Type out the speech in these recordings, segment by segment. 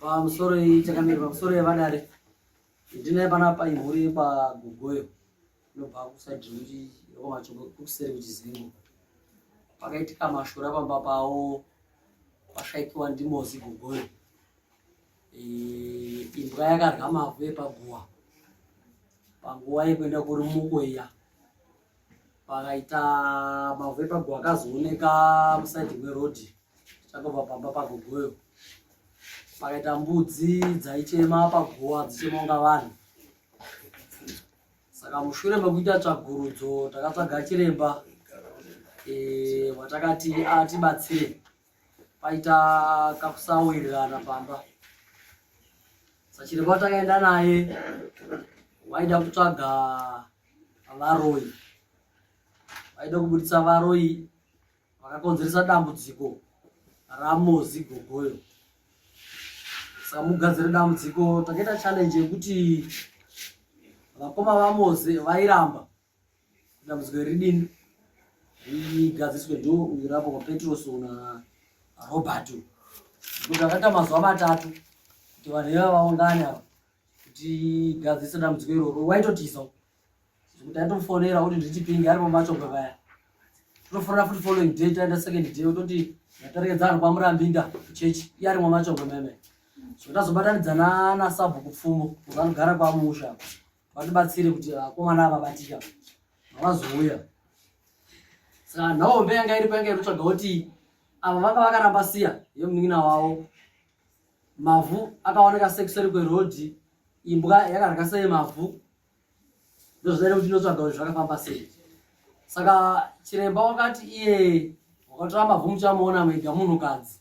pamusoro ichakamira pamusoro yevadare ndinaye panapa imhuri yekwagogoyo inobva kusaidi rekuti yekwamachoko kuseri kuchizingo pakaitika mashura pamba pavo kwashaikiwa ndimozi gogoyo imbwa yakadya mavhu epaguva panguva yekuenda kuri muko iya pakaita mavhu epaguva akazooneka musaidi mwerodhi chakabva pamba pagogoyo pakaita mbudzi dzaichema paguva dzichema kunga vanhu saka mushure mekuita tsvagurudzo takatsvaga chiremba watakati atibatsire paita kakusawirirana pamba sachiremba watakaenda naye waida kutsvaga varoyi vaida kubudisa varoyi vakakonzeresa dambudziko ramozi gogoyo saka mugadzire dambudziko takaita challenge yekuti vakoma vamozi vairamba dambudziko ridini rigadziswe ndo irapo kwapetroso na roberto kuti akaita mazuva matatu kuti vanhu iva vaungane ava kuti gadzise dambudziko iroro waitotiza zvekuti aitofonera kuti nditipinge ari pamachombe vaya tonofonera futi following day taenda second day ototi ndaperekedza vanhu kwamurambinda kuchechi iye ari mwamachombe meme zvekuti azobatanidzana nasabhuku pfumo kuti anogara kwamusha vatibatsire kuti vakomana ava vatika vazouya saka nhaombe yanga iripo yanga irikutsvaga kuti ava vanga vakaramba siya yemunin'ina wavo mavhu akaoneka sekuseri kwerodhi imbwa yakarya sei mavhu ndozvidaire kuti inotsvaga kuti zvakafamba sei saka chiremba wakati iye wakatora mavhu muchamuona mega munhukadzi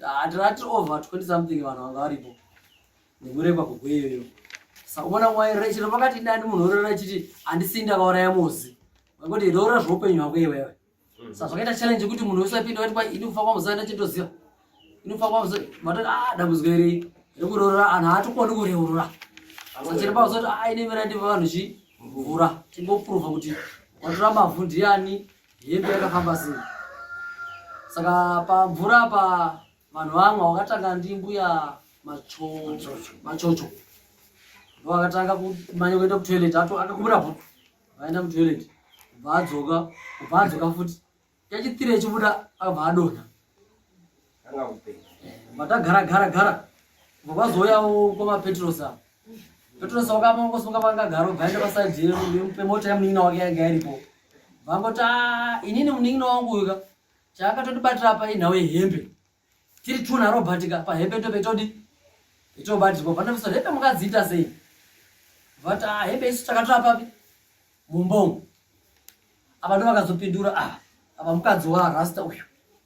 hatirati over 20 something vanhu vanga varipo nekurekwa kugweyoyo sakuona mwairira chino pakati ndani munhu orora chiti handisii ndakauraya muzi kuti roora zvoupenyu hwako iwewe mm. sa zvakaita challenge yekuti munhu wese apinda wati kwai ini kufa kwamuzi aina chitoziva ini kufa kwamuzi matoti a ah, dambudziko iri rekuroora anhu haatokoni kureurura sachiri pauzoti a ah, ine mira ndiva vanhu chimvura tingoprova kuti watora mavhu ndiani Hembe yakafamba sei? Saka pamvura apa vanhu vamwe wakatanga ndimbuya machocho ndovakatanga kumanya kuenda kutoilet akakumura bhutu vaenda mutoilet kubva adzoka kubva adzoka futi yachitire chibuda akabva adonha Anga upe. Matagara gara gara. Vakazouya uko mapetrosa. Petrosa wakamongo sunga vanga garo gaenda paside yero ndimupe mota yamunin'ina wake yanga iripo. Vangoti ah inini munin'ina wangu uyu ka. Chaakatotibatira apa inhawo yehembe. Tiri two na Robert ka pahembe tobe todi. Itobatirwa vanomusa hembe mukadziita sei? Vati ah hembe isu takatora papi? mumba umu apa ndo vakazopindura ah, apa mukadzi warasta uyu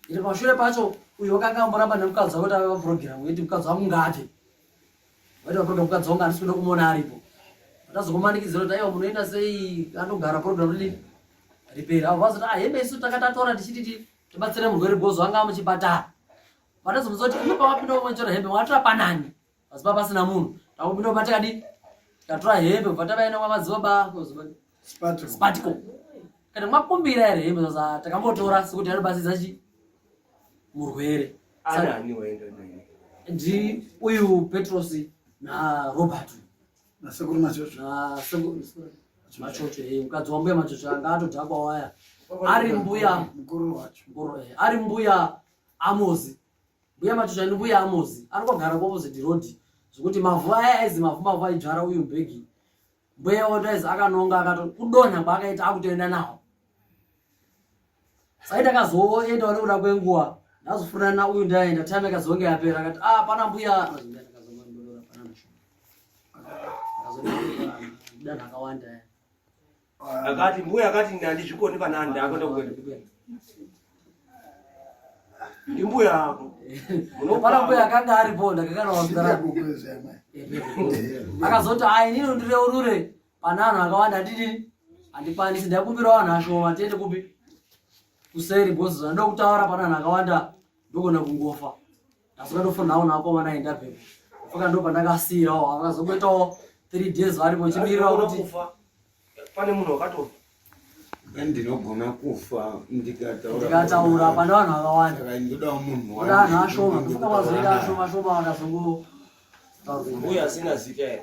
iri pashure pacho uyu wakanga amboramba nemukadzi wavo tava vaprogramu yeti mukadzi wangu ngaate vaiti vaprogramu mukadzi wangu handisi kuda kumona aripo tazokumanikidzira kuti aiwa munoenda sei anogara programu rini riperi avo vazoti ah hembe isu takatatora tichititi tibatsire murwere bhozo anga amuchipatara vatazomuza kuti ino pamapinda kumwenjora hembe mwatora panani asi pa pasina munhu takupinda pa takadi tatora hembe kubva tavaenda kwamadzibaba spatico kana mwakumbira here hembe sasa takambotora sekuti anobatsirza chi murwere ndi uyu petros na robert nasekuru machocho machocho eh, mukadzi wambuya machocho anga atodhakwa waya ari mbuya mukuru wacho eh, ari mbuya amozi Mbuya Matusha ni mbuya Amozi anogara kuopposite road zvekuti mavhu aya aizi mavhu mavhu aidzvara uyu mbegi mbuya oto aizi akanonga akato kudonha kwaakaita akutoenda nawo sai takazoenda wane kuda kwenguva ndazofurana na uyu ndaenda time ikazonge yapera akati ah pana mbuya danha akawanda akati mbuya akati ndandizvikoni kana ndakuenda kuenda ndimbuya ako unopara mbuya akanga aripo ndakakanaakazoti ayi nino ndireurure pane anhu akawanda andidini andikwanisi ndakumbira vanhu ashoma tiende kupi kuseri bcause zvandoda kutaura pane anhu akawanda ndogona kungofa asi ukatofonawo nako vana enda pepo faka ndo pandakasiyirawo vakazongoitawo three days varipo chimirira kuti pane munhu wakatofa ndinogona kufa ndikataura pane vanhu vakawanda ndodawo munhu vanhu ashoma ndofunga vazoita ashoma ashoma vakazongo mbuya asina zita here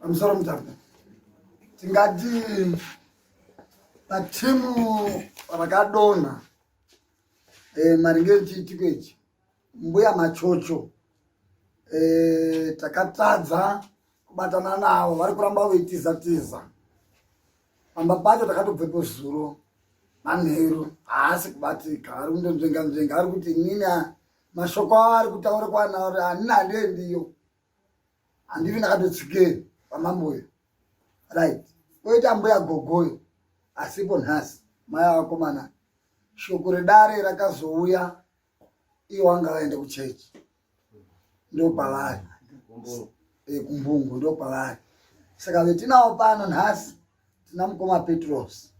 pamusoro mutamba tingati patimu rakadonha eh, maringe nechiitiko ichi mbuya machocho eh, takatadza kubatana navo vari kuramba veitiza tiza pamba pacho takatobvepo zuro manheru haasi kubatika ari kundonzvenga nzvenga ari kuti inini mashoko awo ari kutaura kwana uri hanina handiendiyo handivi ndakatotsikeyo pamamboyo right oita mbuya gogoyo asipo nhasi maya vakomana shoko redare rakazouya iyo wanga vaenda kuchechi ndopavari kumbungu ndopavari saka vetinawo pano nhasi tina mukoma petros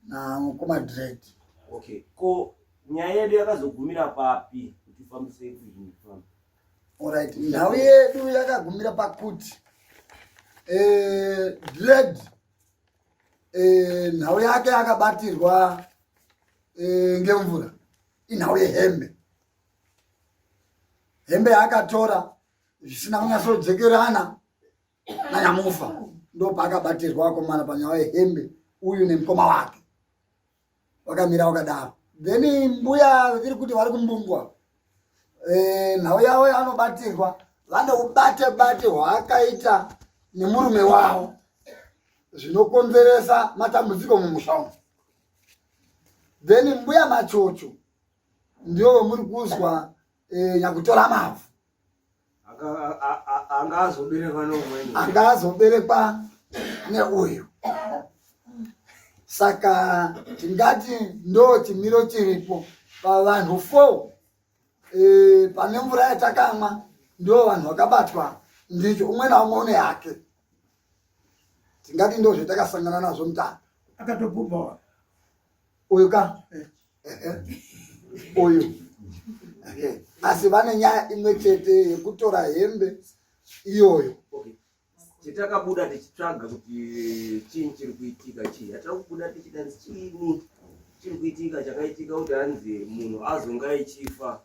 namukoma dread okay ko nyaya yedu yakazogumira papi kuti ufambise kuinifamba orit nhau yedu yakagumira pakuti eh, dread eh, nhau yake yakabatirwa eh, ngemvura inhau yehembe hembe yaakatora zvisina kunyatsojekerana nanyamufa ndo paakabatirwa akomana panyaya yehembe uyu nemukoma wake wakamira wakadaro then mbuya vaviri kuti vari kumbungwa eh, nhau yavo yavanobatirwa vane ubate bate hwaakaita nemurume wavo zvinokonzeresa matambudziko mumusha umu then mbuya machocho ndivo vamuri kuzwa eh, nyakutora mavhu anga azoberekwa neumweni anga azoberekwa neuyu saka tingati ndo chimiro chiripo pavanhu four e, pane mvura yatakamwa ndo vanhu vakabatwa ndicho umwe naumwe une yake tingati ndo zvetakasangana nazvo mutano akatobvubhawa uyu ka eh. uyu asi vane nyaya imwe chete yekutora hembe iyoyo chetakabuda tichitsvaga kuti chii chiri kuitika chii hatira kubuda tichida chiini chiri kuitika chakaitika kuti hanzi munhu azonga ichifa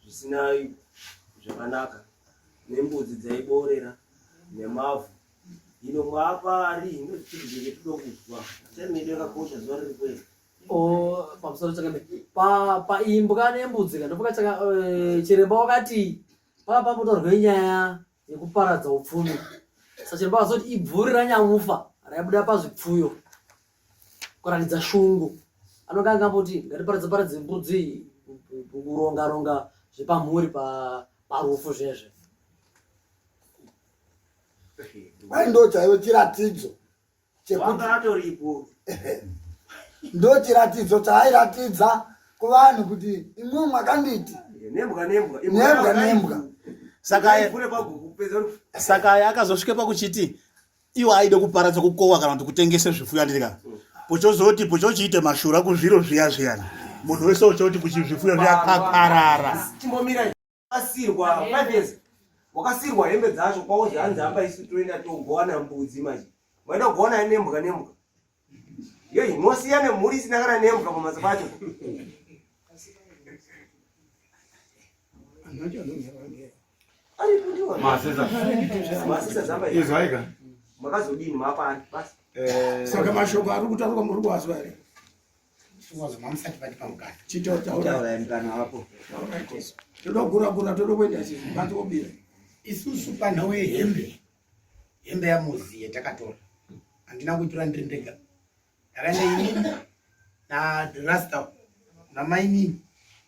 zvisina zvakanaka nembudzi dzaiboorera nemavhu ino mwaapa ari ino zvichiri zvenge tido kuzwa chaimene yakakosha zuva riri kweri pamusoro chakadai paimbwa nembudzi ka ndopoka eh, chiremba wakati paa pamutorwe nyaya yekuparadza upfumi sachiremba vakazoti ibvuri ranyamufa raibuda pazvipfuyo kuratidza shungu anonga angamboti ngatiparadza paradze mbudzi kuronga ronga zvepamhuri parufu zvezve kwai ndo chaivo chiratidzo ndochiratidzo chaairatidza kuvanhu kuti imwe makanditi nembwa nembwa nembwa nembwa saka aye akazosvika pakuchiti iwo aide kuparadza kukowa kana kuti kutengese zvifuyo anditika pochozoti pochochiite mashura kuzviro zviya zviyani munhu wese uchoti kuchizvifuyo zviya kakarara wakasirwa five years wakasirwa hembe dzacho kwaozi hanzi hamba isu toenda togowana mbudzi manje maida kugowana nembwa nembwa yei mosiya nemhuri isina kana nembwa pamhatso pacho izwaika makazodini mapani basi eh, saka mashoko ari kutaurwa muri kuwazwa here todoguragura todokuenda chibati obira isusu panhau yehembe hembe yamuziye takatora handina kuitora ndiri ndega ndakaenda inini narasta namainini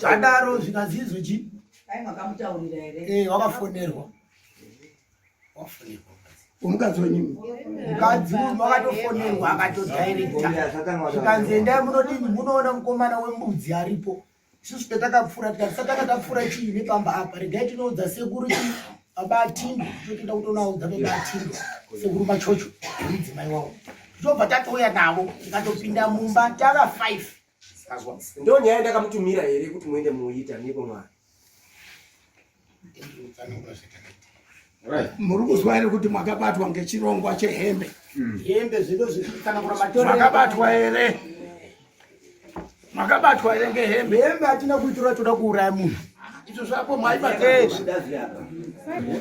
zvadaro zvikazizwi chi dai makamutaurira here eh wakafonerwa wafonerwa umukadzi wenyu mukadzi munhu akatofonerwa akatodairekta zvikanzi endai munodini munoona mukomana wembudzi aripo isusu petakapfuura tikati satanga tapfuura chii nepamba apa regai tinoudza sekuru chii baba atimbo totoenda kutonaudza baba atimbo sekuru machocho mudzimai wavo tobva tatouya navo tikatopinda mumba tava five Azwa. Ndo nyaya ndakamutumira here kuti muende muita nepo mwana. Right. Muri kuzwa here kuti mwakabatwa ngechirongwa chehembe? Hmm. Hembe zvido zvikana kura matoro. Mwakabatwa here? Mwakabatwa here ngehembe? Hembe hatina kuitura toda kuuraya munhu. Izvo zvako mwaibata eh.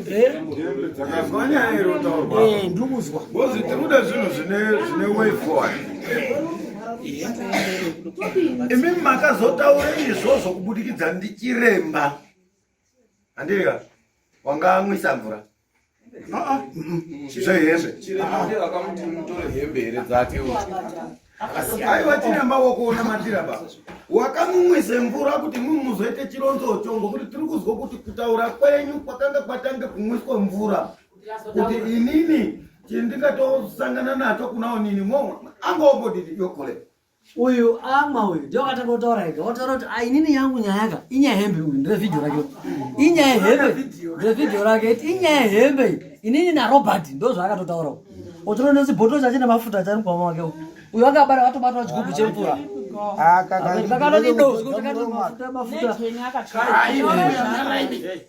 eh? eh, ndikuzwa bozi tikuda zvinhu zvine way forward imi makazotaura izvozvo kubudikidza ndichiremba handika wanga amwisa mvura aiwa chiremba wakuona matira ba wakamumwise mvura kuti mumuzoite chironzo chongo kuti tiri kuzwa kuti kutaura kwenyu kwakanga kwatange kumwiswa mvura kuti inini chindingatosangana nacho kunaonini mo angombodidi yokole uyu amwa uyu ndio akatanga kutaura ega wataura kuti ah, inini yangu nyaya ka inyaya hembe uyu ndire video rake inyaya hembe ndire video rake inyaya hembe inini na Robert ndo zvaakatotaura uyu otoro ndozi bottle chacho nemafuta chari mukoma wake uyu akabara watobatwa chigubhu chemvura ah, kakati do mafuta mafuta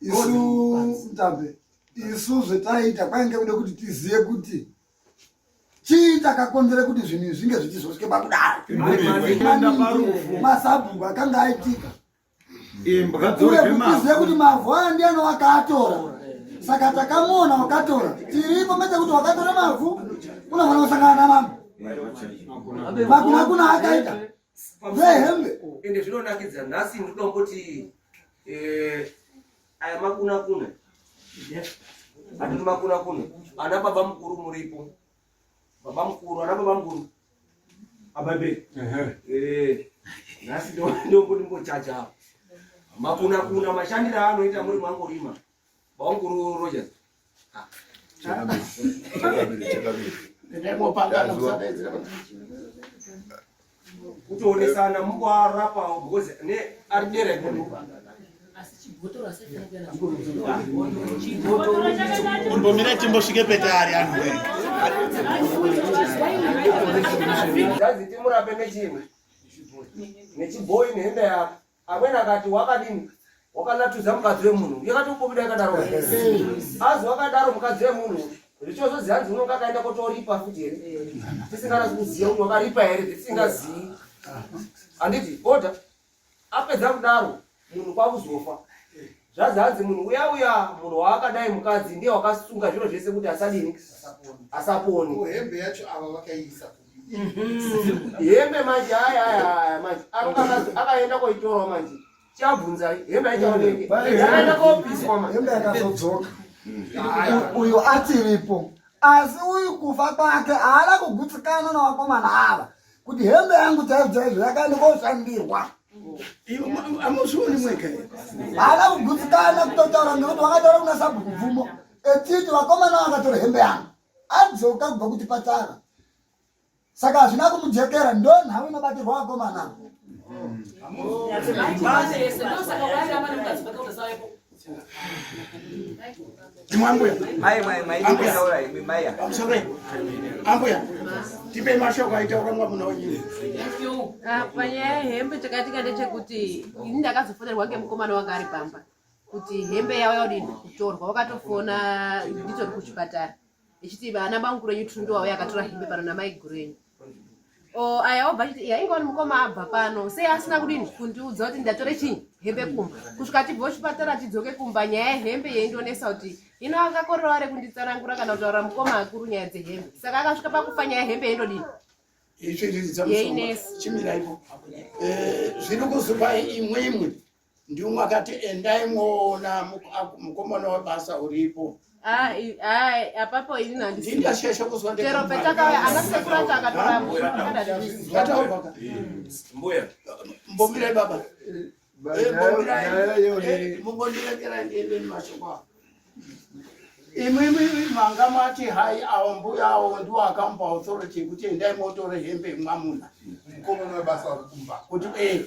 isu mtambe isu zvetaiita kwainge kude kuti tizive kuti chii chakakonzera kuti zvinhu izvi zvinge zvichizosvike pakudaimasabhuku akanga aitika uye kutizive kuti mavhu aya ndiyani wakaatora saka takamuona wakatora tiripo mete kuti wakatora mavhu unofanira kusangana namama makuna kuna akaita vehembe ende zvinonakidza nhasi ndikuda kuti eh, aya makuna kuna atiri makuna kuna ana baba mukuru muripo baba mukuru ana baba mukuru ababe eh, nhasi ndombo ndimbochacha makuna kuna mashandiro aanoita muri mangorima kutoonesana mukuarapa because ne ari dera imbomira timbosvike petari anhu zaziti murape nechimwe nechibhoyi nehembe yako amweni akati wakadini wakanatudza mukadzi wemunhu yakati umbobida yakadaro azi wakadaro mukadzi wemunhu zvichozozii hanzi unonga akaenda kotoripa futi here tisinganasi kuziva kuti wakaripa here tisingazivi handiti oda apedza kudaro munhu kwakuzofa Zvazi hanzi munhu uya uya munhu waakadai mukadzi ndiye wakasunga zviro zvese kuti asadini asaponi. Ko hembe yacho ava vakaisa mhm. hembe manje aya aya aya manje akaenda koitorawo manje chabvunza hembe aichaoneke akaenda kopiswa manje hembe yakazodzoka mm. uyo atiripo asi uyu kufa kwake haana kugutsikana navakomana ava kuti hembe yangu dzaidzaizo yakandikoshandirwa amuzvioni mwega haana kugutsikana kutotaura ngekuti vakataura kuna sabhuku bvumo echiti vakomana vakatora hembe yangu adzoka kubva kuti patara saka hazvina kumujekera ndo nhau inobatirwa vakomana Mwambuya. Mai mai mai ndikaura imi mai. Amsore. Ambuya. Tipe mashoko aitaura mwamuna wenyu. Apa nyaya hembe chakatika ndechekuti ini ndakazofonerwa ngemukomana wanga ari pamba kuti hembe yavo yaodini kutorwa wakatofona nditori kuchipatara ichiti vana bangu kurenyu tundo wavo yakatora hembe pano namai gurenyu o aya obva achiti iya inga wani mukoma abva pano sei asina kudini kundiudza kuti ndatore chii hembe kumba kusvika tibva kuchipatara tidzoke kumba nyaya yehembe yeindonesa kuti ino akakorerawo re kunditsanangura kana kutaura mukoma akuru nyaya dzehembe saka akasvika pakufa nyaya yehembe yeindodini yeindonesa chimirai eh, zviri kuzopai imwe imwe ndiumwe akati endai mwoona mukomana webasa uripo apapo inini handisindasheshe kuzwachero petakauya anasekuru acho akatorambombuya mbomirai baba mumbondirekerai ndiende nemashoko avo imimi manga mati hai awo mbuya awo ndiwo akamupa authority yekuti endai motore hembe mwamuna kuti ee eh,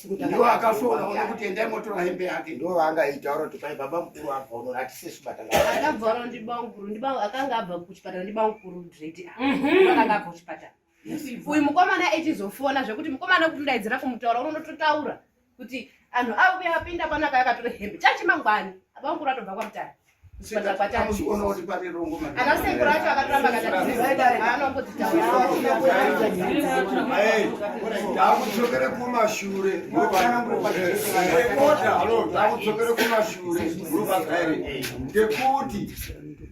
ndiwo akasvona ona kuti endai motora hembe yake ndo vaangaitaura kuti pai baba mukuru abva uno hatisesi kubatangaakabva uno ndibamukuru akanga abva kuchipatara ndibamukuru dredi mhm. akanga abva kuchipatara uyu mukomana echizofona zvekuti mukomana kutundaidzira kumutaura unonototaura kuti anhu auya apinda panaka yakatora hembe chachimangwani abamukuru atobva kwamutara akudzokere kumashure akudzokere kumashure ngekuti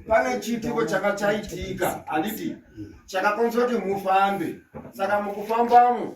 pane chiitiko chaka chaitika handiti chakakonzera kuti mufambe saka mukufambamo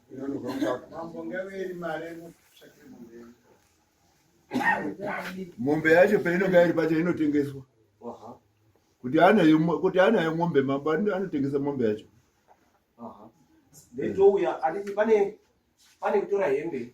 mombe yacho painonga iri pacho inotengeswa kuti anayo kuti anayo mombe mambo anotengesa mombe yacho ndouya anditi pane pane kutora hembe